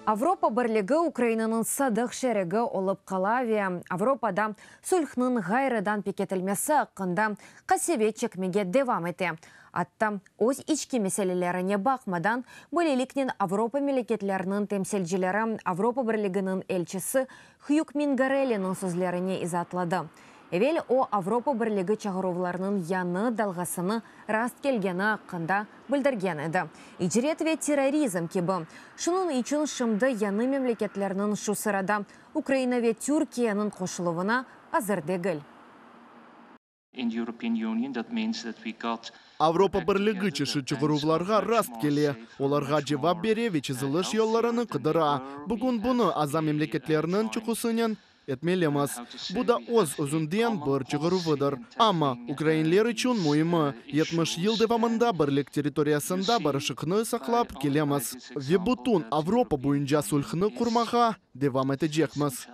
Avropa Birligi Ukrainanıñ sadıq şerigi olıp qala ve Avropada sülhnıñ ğayrıdan pekitilmesi aqqında qasevet çekmege devam ete, atta öz içki meselelerine baqmadan, böyleliknen Avropa memleketleriniñ temsilcileri, Avropa Birliginiñ elçisi Hyuk Mingarelliniñ sözlerini izaatladı. Evel o, Avropa Birligi çağıruvlarnıñ yañı dalğasını rast kelgeni aqqında bildirgen edi, icret ve terrorizm kibi. Şunıñ içün şimdi yañı memleketlerniñ, şu sırada Ukraina ve Türkiyeniñ qoşuluvına azır degil. Avropa Birligi çeşit çığıruvlarğa rast kele, olarğa cevap bere ve çeziliş yollarını qıdıra. Bugün bunı aza memleketlerniñ çıqusınen etmelimiz. Bu da öz-özünden bir çığıruvıdır. Amma ukrainler içün müimi, yetmiş yıl devamında Birlik territoriyasında barışıqnı saqlap kelemiz ve bütün Avropa boyunca sülhnı qurmağa devam etecekmiz.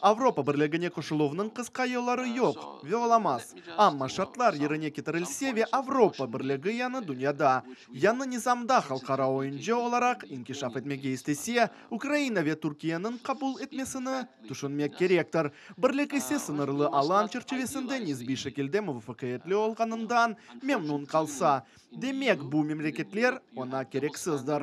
Avropa Birligine qoşuluvnıñ qısqa yolları yoq ve olamaz, amma şartlar yerine ketirilse ve Avropa Birligi yañı dünyada, yañı nizamda halqara oyuncı olaraq inkişaf etmege istese, Ukraina ve Türkiyeniñ qabul etmesini tüşünmek kerektir. Birlik ise sıñırlı alan çerçivesinde nisbiy şekilde muvafaqiyetli olğanından memnun qalsa, Demek, bu memleketler oña kereksizdir.